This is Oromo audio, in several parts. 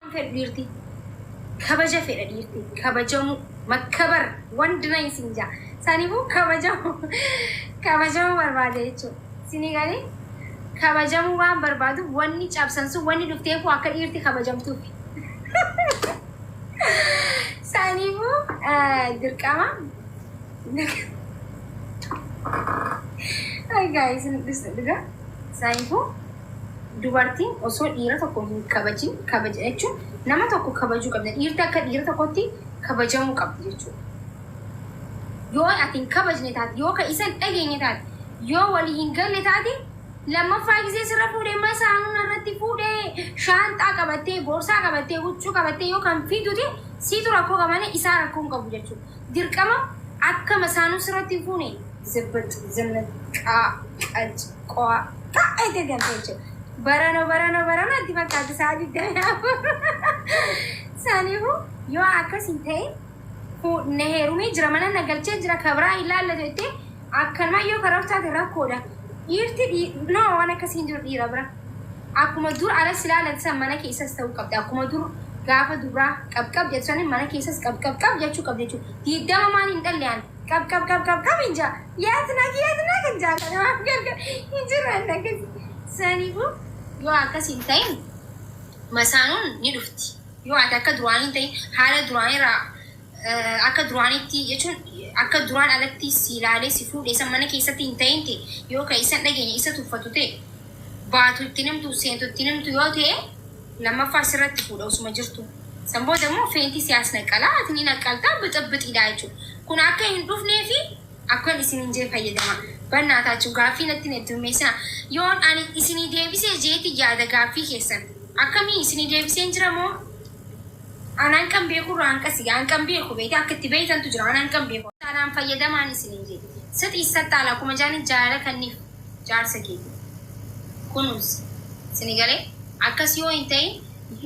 Waan fedhu dhiirti kabaja fedha dhiirti kabajamuu makkabar wandi nayi sin jaa saniifuu kabajamuu kabajamuu barbaada jechuudha. Isinii galee kabajamuu waan barbaaduuf wanni cabsan sun wanni dhufteefuu akka dhiirti kabajamtuuf. Saniifuu eh, dirqama Ay guys, nu dhusna dhugaa. Saniifuu Dubartiin osoo dhiira tokko hin kabajin kabaja jechuun nama tokko kabajuu qabdi. Dhiirti akka dhiira tokkotti kabajamuu qabdi jechuudha. Yoo ati hin kabajne taate, yoo ka isa hin dhageenye taate, yoo walii hin galle taate, lammaffaa gisee sirra fuudhee masaanuu narratti fuudhee shaanxaa qabattee, boorsaa qabattee, huccuu qabattee yoo kan fiitu ta'e siitu rakkoo qaba malee isaa rakkoo hin qabu jechuudha. dirqama akka masaanuu sirratti hin fuune. Zebbax, zannat, qaa, qaj, qoa, ta, ete gante jechuudha. Barano, barano, barano itti fakkaatti sa'a 24. Saniifuu yoo akkas hin ta'in fu- na heerumee jira mana na galchee jira kabraa hin laallatu jettee akkanuma yoo karoorsaate rakkoodha. Dhiirti dhii- no waan akkasii hin jiru dhiira bira. Akkuma dur ana si laalan san mana keessas ta'uu qabda. Akkuma dur gaafa dubraa qab qab jettu san mana keessas qab qab qab jechuu qabda jechuudha. Diiddama maan hin dhalle ani. Qab qab qab qab qab hin jaa. Yaadnaa yaadnaa kan jaa kana maaf gargar hin jiru anna akkasi. Saniifuu yoo akkas hin ta'in masaanuun ni dhufti. Yoo ati akka duraanii hin ta'in haala duraanii irraa Akka duraanitti, jechuun akka duraan alatti si ilaalee si fuudhe san mana keessatti hin ta'in ta'e, yoo ka isa hin dhageenye, isa tuffatu ta'e, baatu itti hin himtu, seentu itti hin himtu yoo ta'e, lammaffaa sirratti fuudha osuma jirtuu. San booda immoo feentii si as naqqala, ati ni naqqalta, bixibbixiidha jechuudha. Kun akka hin dhufneefi akkan isiniin jee fayyadamaa. Bannaa taachuu, gaaffii natti hin heddummeessinaa. Yoon ani isinii deebisee jeeti yaada gaaffii keessan. Akkamii isinii deebiseen jira moo? An hanqan beekurra hanqasi hanqan beeku beete akka itti beeytantu jira an hanqan beeku taanaan fayyadamaan isiniin jedhe sixi issaxxaala akkuma jaaniin jaalala kanniif jaarsa keetif kunuunsi sini galee akkas yoo hin tahin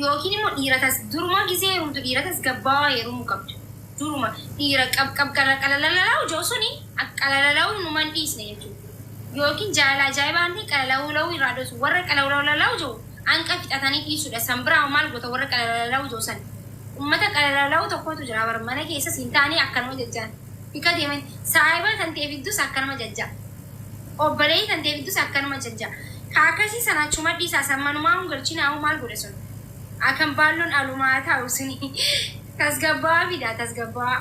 yookiin immoo dhiira tas duruma gizee heerumtu dhiira tasgabbaawaa heerumu qabda duruma dhiira qab qab qala qalalalalau jau suni akka qalalalauu numa hin dhiisne jechuu yookiin jaalala ajaa'ibaa kan tahe qalalaulau irraa dhosu warra qalaulaulalaujauu anqa fixatani dhiisudha san bira hoo maal gota warra qalalalawu ja'u san ummata qalalalawu tokkotu jira bar mana keessas hin taane akkanuma jajjaan bika deeman saahiba tantee fiddus akkanuma jajja obboleeyyi tantee fiddus akkanuma jajja ka akkasii san achuma dhiisaa san manumaa hun galchinaa hoo maal godha sun akan baallon alumaa taa'u suni tasgabbawaa fidaa tasgabbawaa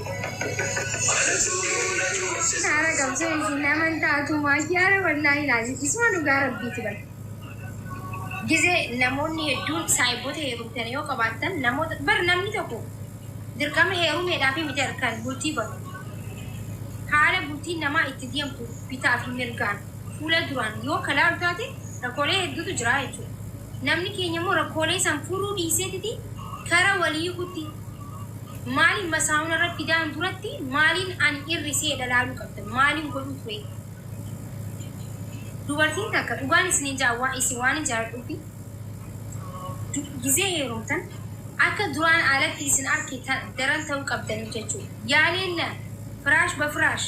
Haara qabsoo isin nama hin taatu maayyaara wallaahi laazim isuma dhugaa rabbiiti bar. Gize namoonni hedduun saayibboota heerumtan yoo qabaattan namoota bar namni tokko dirqama heerumeedhaaf miti harkaan bultii banu. Haala bultiin namaa itti deemtu bitaa fi mirgaan fuula duraan yoo kalaalu taate rakkoolee hedduutu jira jechuudha. Namni keenya immoo rakkoolee san furuu dhiiseetiti kara walii kutti. Maalin masaa'uun irra fidaan duratti maalin ani irri seedha laaluu qabdan maalin godhuu ture dubartiin takka dhugaan isinin jaa waa isin waanin jaaladhuufi gizee heerumtan akka duraan alatti isin arke ta- daran ta'uu qabdan jechuudha yaa leella firaash ba firaash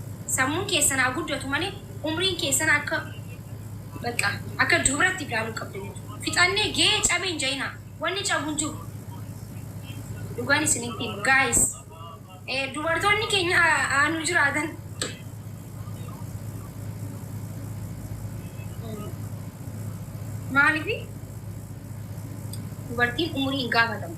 Sammuun keessan haa guddatu malee umriin keessan akka bakka akka dubratti ilaaluu qabdan jechuudha. Fixannee gee cabe hin ja'inaa. Wanni cabu hin jiru. Dhugaan isinitti hima. Guys, eh, dubartoonni keenya haa haa nu jiraatan. Maaliif dubartiin umurii hin gaafatamu.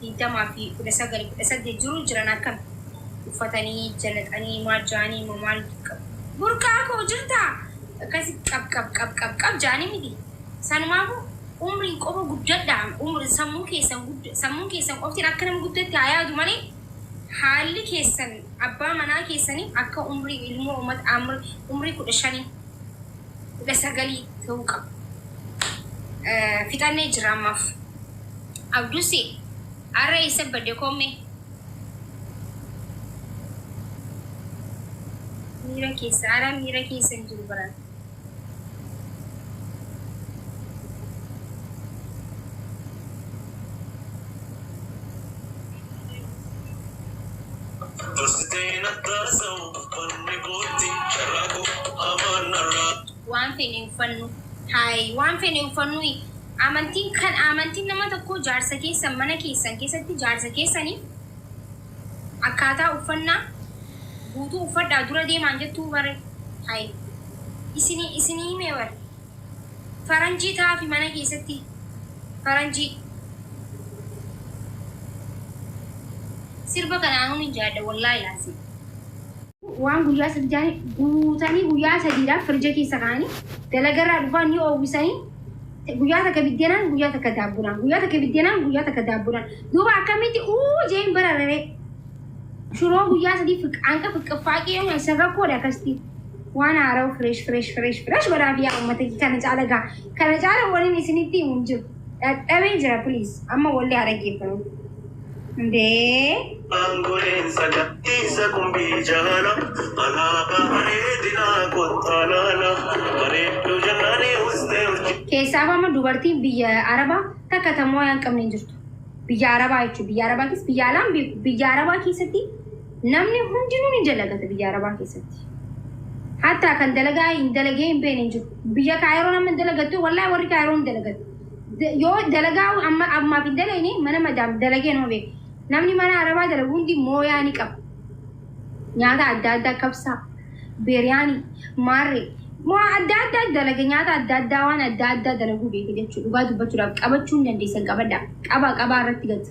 20 fi 19, 18 jiruu jiran akkami uffatanii jalaxanii maal jaanii mo maal qabu burqaa koo jirtaa akkasi qab qab qab qab qab jaanii miti sanumaafu umriin qofa guddadhaa umri sammuu keessan gudda sammuun keessan qoftiin akka nama guddatti haa yaadu malee haalli keessan abbaa manaa keessanii akka umrii ilmoo umat amr umrii 15 kudha sagal ta'uu qaba. Fixannee jira ammaaf. Abdusi har'a eessa badde koommee? Miira keessa har'a miira keessa hin jiru baran. Dursitee na taasau banni gootti carraa koo hamaan narraa. Waan fene uffannu haayii waan fene uffannu amantiin kan amantiin nama tokkoo jaarsa keessan mana keessan keessatti jaarsa keessani akkaataa uffannaa guutuu uffadhaa dura deemaan jettuu bare haayii isini isini himee bare. Faranjii taafi mana keessatti faranjii. Sirba kana anuu nin jaadha wallahi laazim. waan guyyaa sadi jaani guutanii guyyaa sadiidhaaf firija keessa kaa'anii dalagarraa dhufaan ni oowwisanii guyyaa takka biddeenaan guyyaa takka daabbuudhaan guyyaa takka biddeenaan guyyaa takka daabbuudhaan duuba akkamitti uu jeen barararee shuroo guyyaa sadii fiqaanqa fiqqiffaaqee yoo nyaachisan rakkoodha akkasitti Waan haarawa fresh fresh fresh fresh godhaa fi yaa uummata kee kana caala gaa kana caala waliin isinitti himu hin jiru. Dhadhabee jira please amma wallee haa dhaggeeffanu. Ndee. Aangoleen sagantiisa kumbii jaala alaabaa bareedinaa kottaa laala bareedduu jannaanii ustee urjii. Keessaaf amma dubartiin biyya Arabaa takka tamoo yaa hin qabne hin jirtu. Biyya Arabaa jechuun biyya Arabaa keessa biyya alaan beeku biyya Arabaa keessatti Namni hundinuu ni dalagata biyya Arabaa keessatti. Hatta kan dalagaa hin dalagee hin beekne hin jiru. Biyya Kaayiroon amma hin dalagattu wallahi warri Kaayiroon hin dalagatu. Da- Yoo dalagaa amma ammaaf hin dalagne mana madaam dalagee nama beeku. Namni mana Arabaa dalagu hundi mooyaa ni qaba. Nyaata adda addaa kabsaa, biriyaanii, maarree. Waa adda addaa dalage nyaata adda addaa waan adda addaa dalaguu beeka jechuudha. Dhugaa dubbachuudhaaf qabachuu hin dandeessan qabadhaa. Qabaa qabaa irratti gatu.